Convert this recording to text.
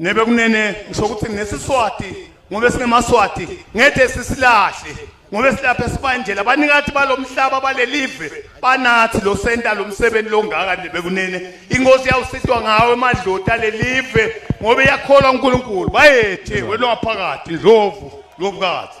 nebe kunene ngisho ukuthi nesiswati ngoba singemaswati ngeke sisilahle ngoba silapha sibanjela abanikathi balomhlaba balelive banathi lo senta lomsebenzi longaka nebe kunene inkosi yawusitwa ngawe emadlota lelive ngoba iyakholwa uNkulunkulu bayethe wena waphakathi ndlovu lobukazi